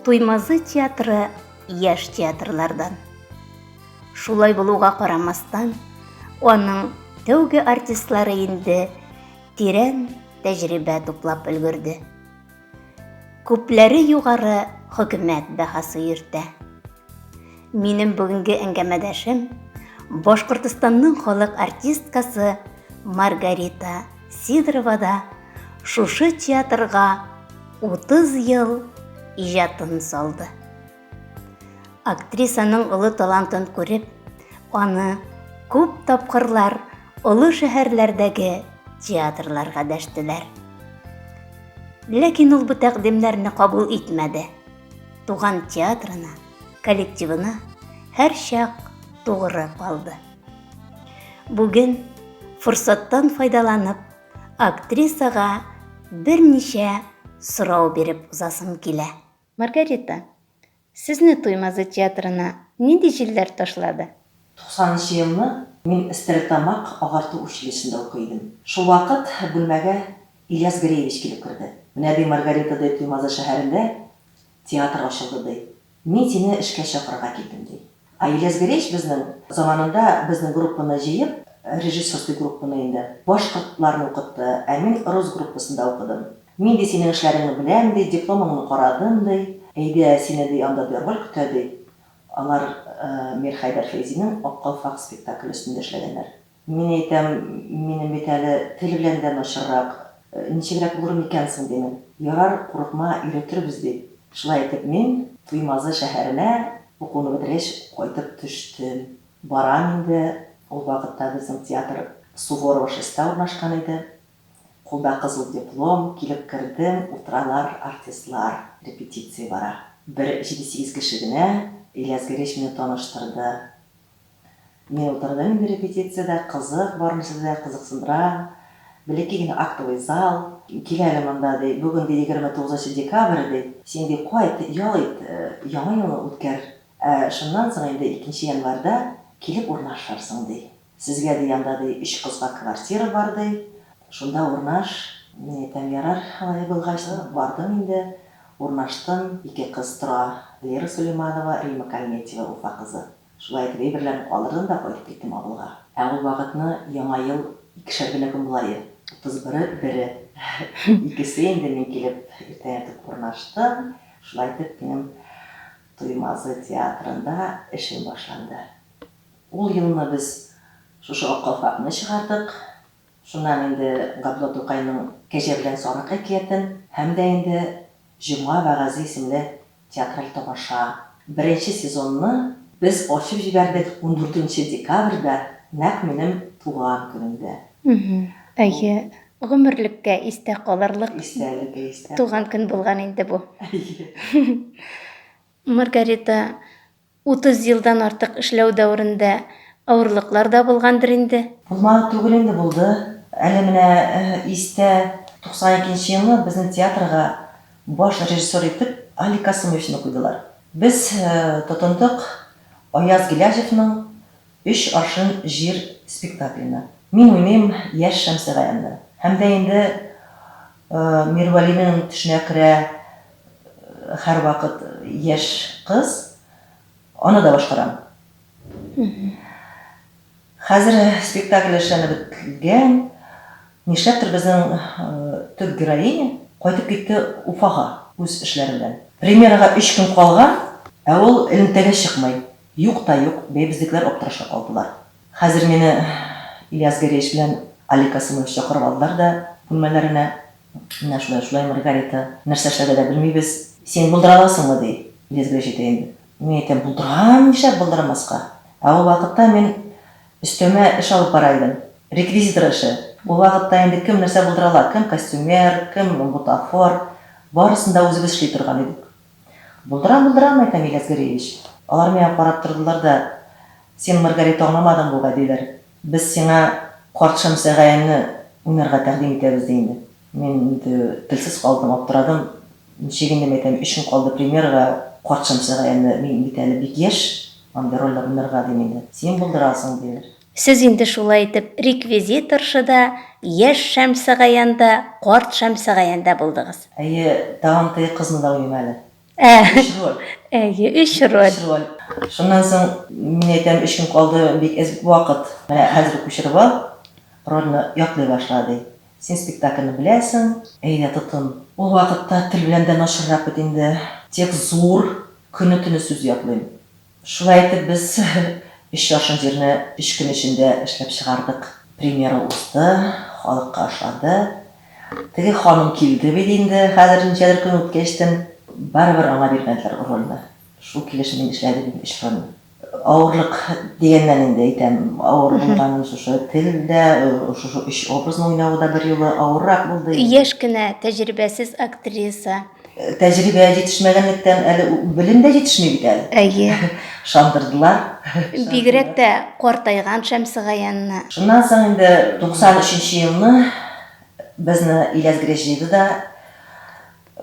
Туймазы театры яшь театрлардан. Шулай булуга карамастан, аның тәүге артистлары инде тирән тәҗрибә туплап өлгерде. Күпләре югары хөкүмәт бәһасы йөртә. Минем бүгенге әңгәмәдәшем Башкортостанның халык артисткасы Маргарита Сидорова да шушы театрга 30 ел иҗатын салды. Актрисаның олы талантын күреп, аны күп тапкырлар олы шәһәрләрдәге театрларга дәштеләр. Ләкин ул бу тәкъдимнәрне кабул итмәде. Туган театрына, коллективына һәрчак тугры калды. Бүген форсаттан файдаланып, актрисага берничә сорау биреп узасым килә. Маргарита, сезне Туймазы театрына нинди җилләр ташлады? Туксанынчы елны мин Стәрлетамак агарту училищесында укый идем. Шулвакыт бүлмәгә Ильяс Греевич килеп керде. Менә, ди, Маргарита, ди, Туймазы шәһәрендә театр ачылды, ди. Мин сине эшкә чакырырга килдем, ди. Аиләс Грейч безнең, заманында безнең группаны җыеп, режиссерский группаны инде, башкортларны укытты, ә мин рус группасында укыдым. Мин, ди, синең эшләреңне беләм, ди, дипломыңны карадым, ди. Әйдә, сине, ди, анда, ди, роль көтә, ди. Алар Мирхәйдәр Фәйзинең Ак калфак спектакле өстендә эшләгәннәр. Мин әйтәм, минем бит әле тел белән дә начаррак, ничегрәк булыр микән соң, димен. Ярар, курыкма, өйрәтербез, ди. Шулай итеп мин Туймазы шәһәренә укуны бетергәч кайтып төштем. Барам инде, ул вакытта безнең театр Суворова шестьта урнашкан иде. Кулда кызыл диплом, килеп кердем, утыралар артистлар, репетиция бара. Бер җиде-сигез кеше генә, Ильяс Гәрәч мине таныштырды. Менә утырдым инде репетициядә, кызык, бармысы да кызыксындыра. Бәләкәй генә актовый зал. Кил әле монда, ди, бүген, ди, егерме тугызынчы декабрь, ди. Син, ди, кайт, ял ит, Яңа елны үткәр. Ә шуннан соң инде икенче январьда килеп урнашырсың, ди. Сезгә, ди, анда, ди, өч кызга квартира бар, ди. Шунда урнаш. Мин әйтәм, ярар, алай булгач. Бардым инде, урнаштым. Ике кыз тора, Лера Сөләйманова, Римма Кальметьева, Уфа кызы. Шулай итеп әйберләрен калдырдым да кайтып киттем авылга. Ә ул вакытны Яңа ел икешәр генә көн була иде. Утыз бере, бере. Икесе инде мин килеп иртән иртүк урнаштым. Шулай итеп минем Туймазы театрында эшем башланды. Ул елны без шушы Ак калфакны чыгардык. Шуннан инде Габдулла Тукайның Кәҗә белән сарык әкиятен һәм дә инде Җомга вәгазе исемле театраль тамаша. Беренче сезонны без ачып җибәрдек ундүртенче декабрьдә, нәкъ минем туган көнемдә. Әйе, гомерлеккә истә калырлык туган көн булган инде бу. Маргарита Утыз елдан артык эшләү дәверендә авырлыклар да булгандыр инде? Булмады түгел инде, булды. Әле менә истә, 92 нче елны безнең театрга баш режиссер итеп Алик Касыймовичны куйдылар. Без тотындык Аяз Гыйләҗевның Өч аршин җир спектакленә. Мин уйныйм яшь Шәмсегаянны. Һәм дә инде Мирвәлинең төшенә керә. Һәрвакыт яшь кыз, аны да башкарам. Хәзер спектакль эшләнеп беткән. Нишләптер безнең төп героиня кайтып китте Уфага үз эшләре белән. Премьерага өч көн калган, ә ул элемтәгә чыкмый. Юк та юк, бәй безнекеләр аптырашка калдылар. Хәзер мине Ильяс Гәрәевич белән Алик Касыймович чакырып алдылар да бүлмәләренә. Менә шулай-шулай, Маргарита, нәрсә эшләргә дә белмибез. Син булдыра аласыңмы? ди. Лизга җитә инде. Мин әйтәм, булдырам, нишләп булдырмаска? Ә ул вакытта мин өстәмә эш алып бара идем, реквизитор эше. Ул вакытта инде кем нәрсә булдыра ала, кем костюмер, кем бутафор, барысын да үзебез эшли торган идек. Булдырам, булдырам, әйтәм, Ильяс Гәрәевич. Алар миңа карап тордылар да, Син, Маргарита, аңламадың бугай, диләр. Без сиңа Карт Шәмсәгаянне уйнарга тәкъдим итәбез, ди инде. Мин инде телсез калдым, аптырадым. Ничек инде, мин әйтәм, өч көн калды премьерага, Карт Шәмсәгаянне, мин бит әле бик яшь андый рольләр уйнарга, дим инде. Син булдырасың, диләр. Сез инде шулай итеп реквизиторша да, яшь Шәмсегаян да, Карт Шәмсегаян да булдыгыз. Әйе, тагын теге кызны да уйныйм әле. Ә, Өч роль. әйе, өч роль. Өч роль. Шуннан соң, мин әйтәм, өч көн калды, бик әз вакыт. Менә хәзер күчереп ал, рольне яклый башла, ди. Син спектакльне беләсең, әйдә, тотын. Ул вакытта тел белән дә начаррак бит инде. Текст зур, көне-төне сүз ятлыйм. Шулай итеп без өч яшел җирне өч көн эчендә эшләп чыгардык. Премьера узды, халыкка ошады. Теге ханым килде бит инде хәзер ничәдер көн үткәчтен, барыбер аңа бирмәделәр рольне. Шул килеш мин эшләдем инде өч рольне. Авырлык дигәннән инде әйтәм, авыр булган шушы тел дә, шушы өч образны уйнавы да берьюлы авыррак булды инде. Яшь кенә, тәҗрибәсез актриса, Тәҗрибә җитешмәгәнлектән әле белем дә җитешми бит әле. Әйе. Ышандырдылар. Бигрәк тә картайган Шәмсегаянны. Шуннан соң инде 93 нче елны безне Иләсгрәч җыйды да,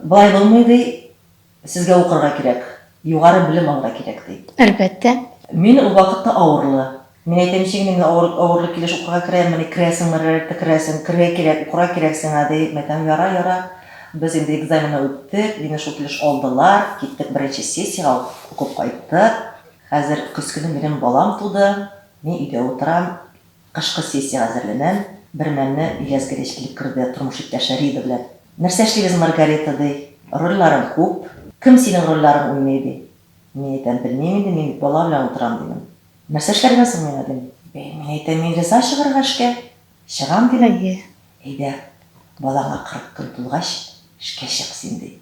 Болай булмый, ди, сезгә укырга кирәк, югары белем алырга кирәк, ди. Әлбәттә. Мин ул вакытта авырлы. Мин әйтәм, ничек инде мин авыр, авырлык килеш укырга керәм, менә керәсең, мэрэрэтэ керәсең, керергә кирәк, укырга кирәк сиңа, ди. Мин әйтәм, ярар, ярар, без инде экзаменны үттек, мине шул килеш алдылар, киттек беренче сессиягә ук, укып кайттык. Хәзер көз көне минем балам туды, мин өйдә утырам, кышкы сессиягә әзерләнәм. Бермәлне Илязгәрич килеп керде, тормыш иптәше Рида белән. Нәрсә эшлибез, Маргарита, ди, рольләрең күп, кем синең рольләрең уйный, ди. Мин әйтәм, белмим инде, мин бит бала белән утырам, дидем. Нәрсә эшләргә соң мин, Адель? Бәй, мин әйтәм, мин риза чыгарга эшкә. Чыгам, дим. Әйе, әйдә, балаңа кырык көн тулгач, эшкә чык син, ди.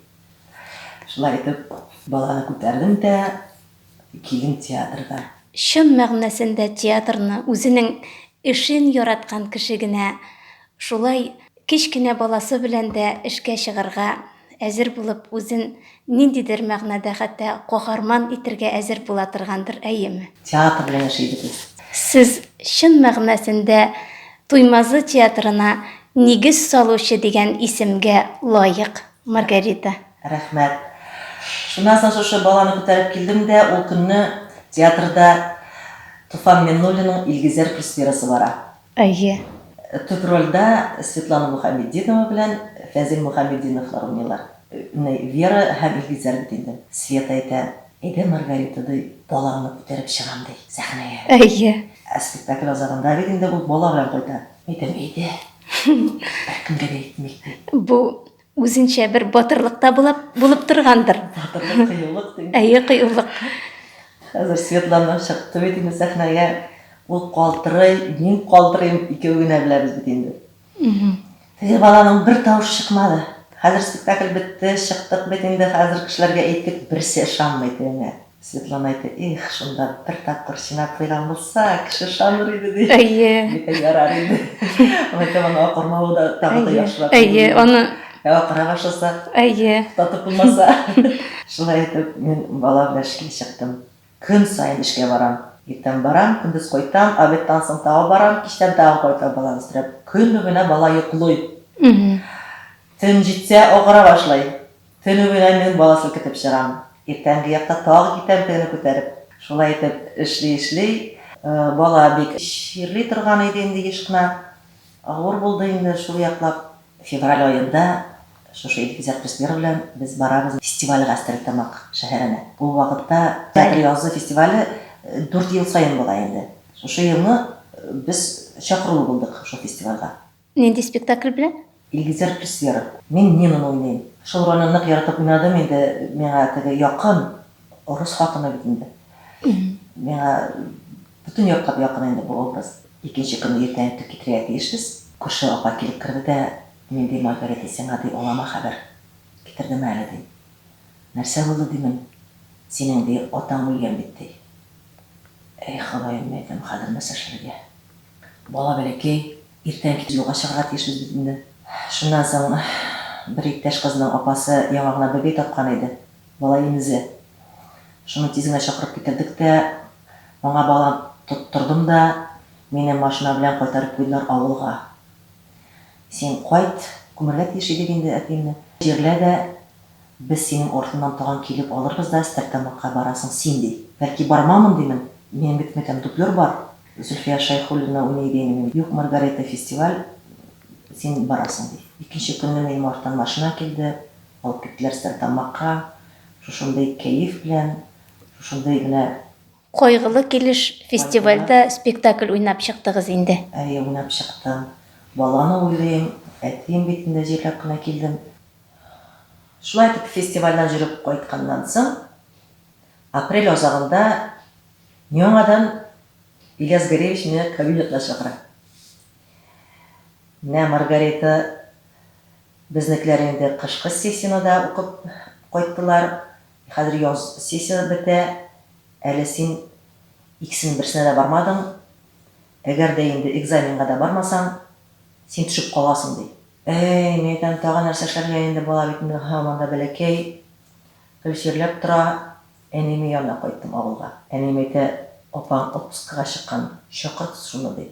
Шулай итеп, баланы күтәрдем дә килдем театрга. Чын мәгънәсендә театрны үзенең эшен яраткан кеше генә Шулай кечкенә баласы белән дә эшкә чыгарга әзер булып, үзен ниндидер мәгънәдә хәтта каһарман итәргә әзер була торгандыр, әйеме? Театр белән яши идек без. Сез чын мәгънәсендә Туймазы театрына нигез салучы дигән исемгә лаек, Маргарита. Рәхмәт. Шуннан соң шушы баланы күтәреп килдем дә, ул көнне театрда Туфан Миннуллинның Илгизәр пресвирасы бара. Әйе. Төп рольдә Светлана Мухаметдинова белән Фәзил Мухаметдиновлар уйныйлар. Менә Вера һәм Илгизәр бит инде. Света әйтә, Әйдә, Маргарита, ди, балаңны күтәреп чыгам, ди, сәхнәгә. Әйе. Ә спектакль азагында бит инде ул бала белән кайта. Әйтәм, Әйдә, беркемгә дә әйтмик, ди. Бу Үзенчә бер батырлык та булып, булып торгандыр. Батырлык, кыюлык дим. Әйе, кыюлык. Хәзер Светлана чыкты бит инде сәхнәгә. Ул калтырый, мин калтырыйм, икәү генә беләбез бит инде. Теге баланың бер тавыш чыкмады. Хәзер спектакль бетте, чыктык бит инде, хәзер кешеләргә әйттек, берсе ышанмый тегеңә. Светлана әйтә, Эх, шунда бер тапкыр чинап куйган булса, кеше ышаныр иде, ди. Әйе. Бик ярар иде. Әйтә, аны акырмавы да тагы да яхшырак. Әйе, аны Ә акыра башласа, әйе. Татып булмаса. Шулай итеп, мин бала белән эшкә чыктым. Көн саен эшкә барам. Иртән барам, көндез кайтам, обедтан соң тагы барам, кичтән тагы кайтам баланы өстерәп. Көн буена бала йоклый. Төн җитсә, акыра башлый. Төне буена мин баласын көтеп чыгам. Иртәнге якта тагы китәм тегене күтәреп. Шулай итеп, эшли-эшли, бала бик чирли торган иде инде еш кына. Авыр булды инде шул яклап. Февраль аенда шушы Илгизәр Преснер белән без барабыз фестивальгә Стәрлетамак шәһәренә. Ул вакытта театр язы фестивале дүрт ел саен була инде. Шушы елны без чакырулы булдык шул фестивальгә. Нинди спектакль белән? Илгизәр Песцеров. Мин Нинаны уйныйм. Шул рольне нык яратып уйнадым инде, миңа теге якын, рус хатыны бит инде. Миңа бөтен якка да якын инде бу образ. Икенче көнне иртән үк китерергә тиешбез. Күрше апа килеп керде дә, Мин, ди, Маргарита, сиңа, ди, олама хәбәр китердем әле, ди. Нәрсә булды, димен, синең, ди, атаң үлгән бит, ди. Әй, Ходаем, дидем, хәзер нәрсә эшләргә? Бала бәләкәй, Иртән кич юлга чыгарга тиешбез бит инде. Шуннан соң бер иптәш кызның апасы яңа гына бәбәй тапкан иде, бала имезе. Шуны тиз генә чакырып китердек тә, аңа балан тоттырдым да, мине машина белән кайтарып куйдылар авылга. Син кайт, күмәргә тиеш идек инде әтиемне. Җирлә дә, без синең артыңнан тагын килеп алырбыз да, Стәрлетамакка барасың син, ди. Бәлки бармамын, димен, минем бит метәм дублер бар. Зөлфия Шәйхуллина уйный иде инде мин Юк, Маргарита, фестиваль, син барасың, ди. Икенче көнне минем арттан машина килде, алып киттеләр Стәрлетамакка. Шушындый кәеф белән, шушындый генә. Кайгылы килеш, фестивальдә спектакль уйнап чыктыгыз инде. Әйе, уйнап чыктым. Баланы уйлыйм, әтием битен дә җирләп кенә килдем. Шулай итеп, фестивальдән җөреп кайтканнан соң, Апрель азагында яңадан Ильяс Горевич мине кабинетына чакыра. Менә Маргарита безнекеләр инде кышкы сессияне дә укып кайттылар. Хәзер яз сессиясе бетә. Әле син икесенең берсенә дә бармадың. Әгәр дә инде экзаменга да бармасаң, син төшеп каласың, ди. Әй, мин әйтәм, тагын нәрсә эшләргә инде, бала бит инде һаман да бәләкәй. Гел чирләп тора, Әниемнең янына кайттым авылга. Әнием әйтә, Апаң отпускыга чыккан, чакырт шуны, ди.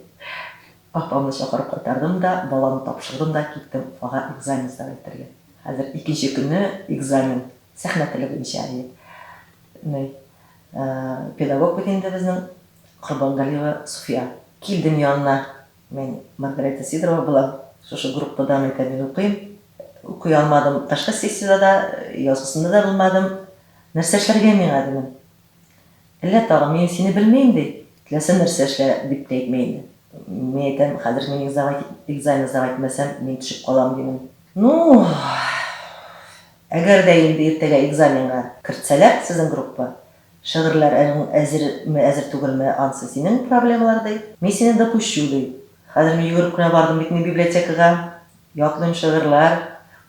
Апамны чакырып кайтардым да, баламны тапшырдым да киттем Уфага экзамен сдавать итәргә. Хәзер икенче көне экзамен, сәхнә теле буенча әле. Ни, педагог бит инде безнең Корбангалиева Суфия. Килдем янына, Мин Маргарита Сидорова булам. Шушы группадан икән мин укыйм. Укый алмадым. Ташкы сессиядә дә, язгысында да булмадым. Нәрсә эшләргә миңа, дидем. Әллә тагын, мин сине белмим, ди. Теләсә нәрсә эшлә, дип тә әйтми инде. Мин әйтәм, хәзер мин экзамен, экзамен сдавать итмәсәм, мин төшеп калам, дидем. Ну, әгәр дә инде иртәгә экзаменга кертсәләр, сезнең группа, Шыгырьләр әзер ме, әзер түгел ме, ансы синең проблемалар, ди. Мин сине да күчү, ди. Хәзер мин йөгереп кенә бардым бит мин библиотекага. Ятлыйм шыгырьләр.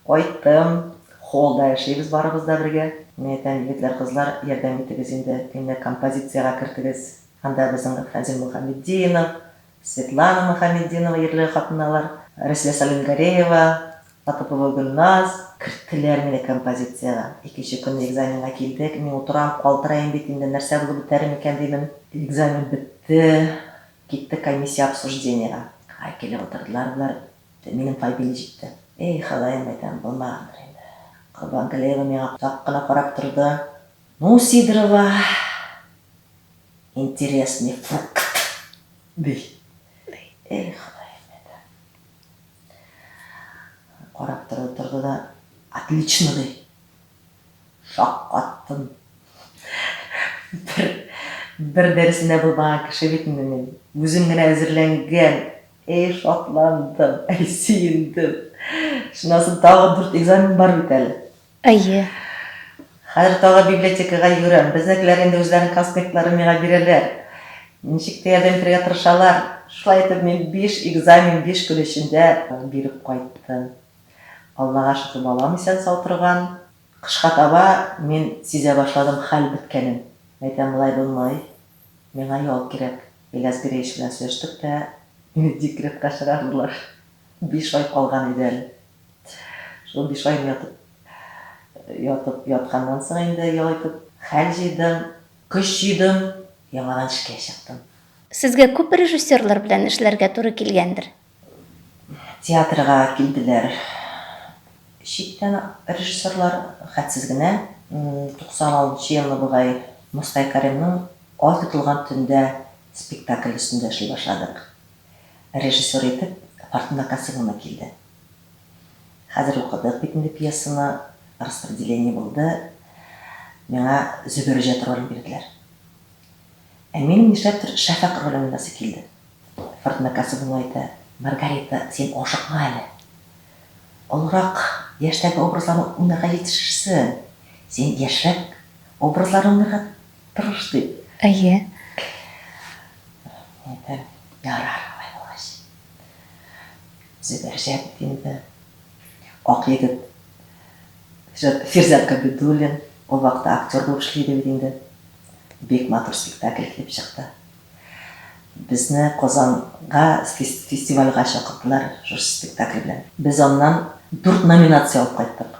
Кайттым. Холлда яшибез барыбыз да бергә. Мин әйтәм, егетләр, кызлар, ярдәм итегез инде, мине композициягә кертегез. Анда безнең Фәнзил Мөхәмметдинов, Светлана Мөхәмметдинова ерле хатыналар, Рәсилә Салимгареева, Атыпово Гөлназ, керттеләр мине композициягә. Икенче көнне экзаменга килдек. Мин утырам, калтыраем бит инде, нәрсә булып бетәр микән димен. Экзамен бетте, киттек комиссия обсуждениега. Ай, килеп утырдылар болар, минем фамилия җитте. Эй, Ходаем, әйтәм, булмагандыр инде. Корбан Галиева миңа озак кына карап торды. Ну Сидорова интересный фрукт ди. Эй, Ходаем это. Карап торды, торды да, отлично ди. Шаккаттым. Бер, бер дәресендә булмаган кеше бит инде мин. Үзем генә әзерләнгән. Эй, шатландым, эй, сөендем. Шуннан соң тагы дүрт экзамен бар бит әле. Әйе. Хәзер тагы библиотекага йөгерәм. Безнекеләр инде үзләренең конспектларын миңа бирәләр. Ничек тә ярдәм итәргә тырышалар. Шулай итеп, мин биш экзамен биш көн эчендә биреп кайттым. Аллага шөкер, балам исән-сау торган. Кышка таба мин сизә башладым хәл беткәнен. Әйтәм, болай булмый. Миңа ял кирәк. Ильяс Гиреевич белән сөйләштек тә, мине декретка чыгардылар. Биш ай калган иде әле. Шул биш ай ятып, ятып ятканнан соң инде ял итеп, хәл җыйдым, көч җыйдым, яңадан эшкә чыктым. Сезгә күп режиссерлар белән эшләргә туры килгәндер? Театрга килделәр читтән режиссерлар, хәтсез генә. 96 елны бугай Мускай Кәримнең Ай тотылган төндә спектакль өстендә эшли башладык. Режиссер итеп Фортуна Касымовна килде. Хәзер укыдык бит инде пьесаны, распределение булды, миңа Зөбәрҗәт ролен бирделәр. Ә минем нишләптер Шәфәкъ ролен уйнасы килде. Фортуна Касымовна әйтә, Маргарита, син ашыкма әле. Олырак яшьтәге образларны уйнарга җитешерсең. Син яшьрәк образларны уйнарга Тырыш дип. Әйе. Әйдә, ярар, алай булгач. Зөбәр Җәләлетдинова, Ак егет, Фирзәт Габидуллин, ул вакытта актер булып эшли иде бит инде. Бик матур спектакль килеп чыкты. Безне Казанга фестивальгә чакырдылар шушы спектакль белән. Без аннан дүрт номинация алып кайттык.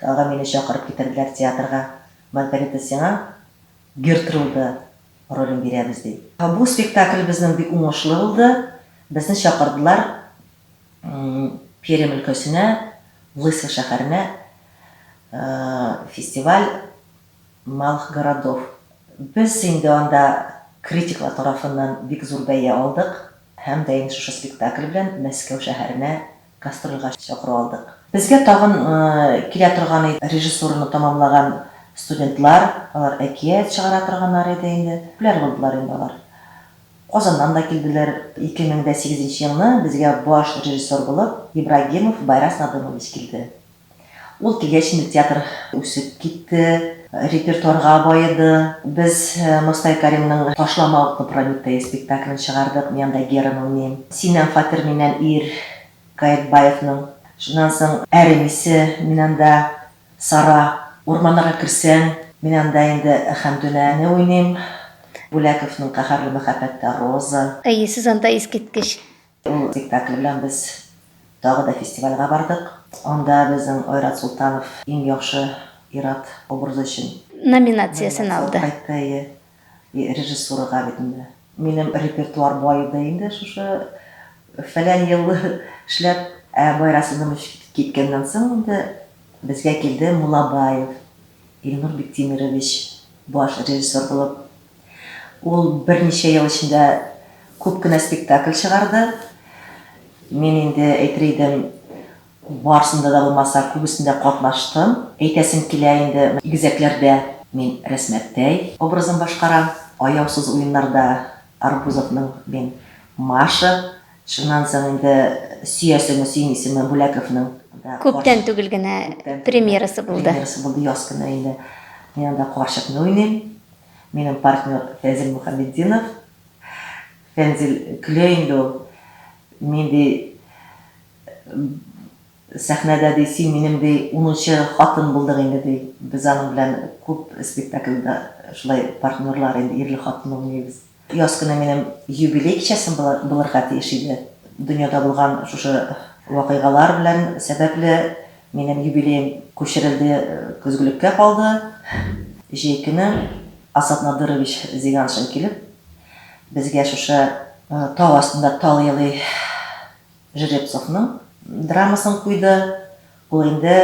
Тагы мине чакырып китерделәр театрга. Маргарита, сиңа Гертруда ролен бирәбез, ди. Бу спектакль безнең бик уңышлы булды. Безне чакырдылар Пермь өлкәсенә, Лысьва шәһәренә фестиваль Малых городов. Без инде анда критиклар тарафыннан бик зур бәя алдык һәм дә инде шушы спектакль белән Мәскәү шәһәренә Гастрольгә чакыру алдык. Безгә тагын килә торган иде режиссураны тәмамлаган студентлар, алар әкият чыгара торганнар иде инде, популяр булдылар инде алар. Казаннан да килделәр. 2008 нче елны безгә баш режиссер булып Ибрагимов Байрас Надымович килде. Ул килгәч инде театр үсеп китте, репертуарга баеды. Без Мостай Кәримнең Ташлама утны Прометей спектаклен чыгардык, мин анда Гераны уйныйм. Синнән фатир, миннән ир, Каекбаевның. Шуннан соң Әрем исе, мин анда Сара. Урманнарга керсәң, мин анда инде Хәмдүнәне уйныйм, Бүләковның Каһәрле мәхәббәттә Роза. Әйе, сез анда искиткеч Ул спектакль белән без тагы да фестивальгә бардык. Анда безнең Айрат Солтанов иң яхшы ир-ат образы өчен. Номинациясен алды. Номинация алып кайтты, әйе. И режиссурага бит инде. Минем репертуар бай иде инде шушы фәлән ел эшләп. Ә Байрат Сидонович киткәннән соң инде безгә килде Мулабаев Илнур Биктимерович баш режиссер булып. Ул берничә ел эчендә күп кенә спектакль чыгарды. Мин инде әйтер идем, барысында да булмаса, күбесендә катнаштым. Әйтәсем килә инде, Игезәкләрдә мин Рәсмәттәй образын башкарам, Аяусыз уеннарда Арбузовның мин Маша, шуннан соң инде Сөясеңме, сөймисеңме Бүләковның да Күптән түгел генә премьерасы булды. Премьерасы булды, яз көне инде мин анда карчыкны уйныйм. Минем партнер Фәнзил Мөхәмметдинов. Фәнзил көлә инде ул. Мин ди сәхнәдә ди син минем ди унынчы хатын булдың инде ди. Без аның белән күп спектакльдә шулай партнерлар инде ирле-хатынлы уйныйбыз. Яз көне минем юбилей кичәсем булырга тиеш иде. Дөньяда булган шушы вакыйгалар белән сәбәпле минем юбилеем күчерелде, көзгелеккә калды. Җәй көне Асад Надырович Зиганшин килеп, безгә шушы тау астында тал елый, Жеребцовның драмасын куйды. Ул инде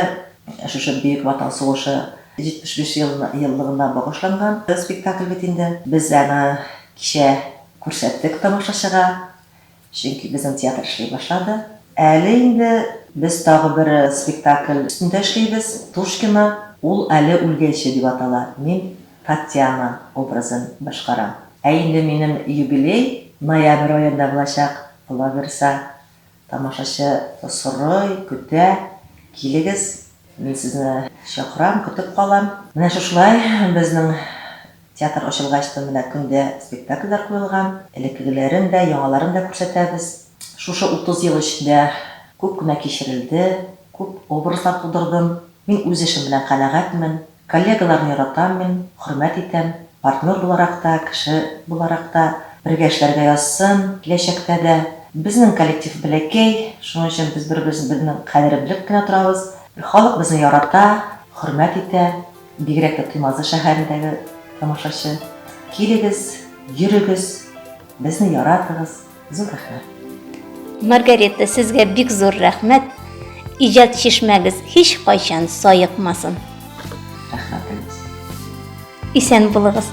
шушы Бөек Ватан сугышы 75 еллыгына багышланган спектакль бит инде. Без аны кичә күрсәттек тамашачыга, чөнки безнең театр эшли башлады. Әле инде без тагы бер спектакль өстендә эшлибез, Тушкино. Ул Әле үлгәнче дип атала. Мин Татьяна образын башкарам. Ә инде минем юбилей ноябрь аенда булачак, Калаберса, тамашачы сорый, көтә, килегез, мин сезне чакырам, көтеп калам. Менә шушылай безнең театр ачылгач та менә көн дә спектакльләр куелган. Элеккегеләрен дә, яңаларын да күрсәтәбез. Шушы 30 ел эчендә күп кенә кичерелде, күп образлар тудырдым. Мин үз эшем белән канәгатьмен. Коллегаларны яратам мин, хөрмәт итәм. Партнер буларак та, кеше буларак та. Бергә эшләргә язсын, киләчәктә дә. Безнең коллектив бәләкәй, шуның өчен без бер-беребезнең кадерен белеп кенә торабыз. Халык безне ярата, хөрмәт итә, бигрәк тә Туймазы шәһәрендәге тамашачы. Килегез, йөрегез, Безне яратыгыз, зур рәхмәт. Маргарета, сезгә бик зур рәхмәт. Иҗат чишмәгез һич кайчан саекмасын. Рәхмәтегез. Исән булыгыз.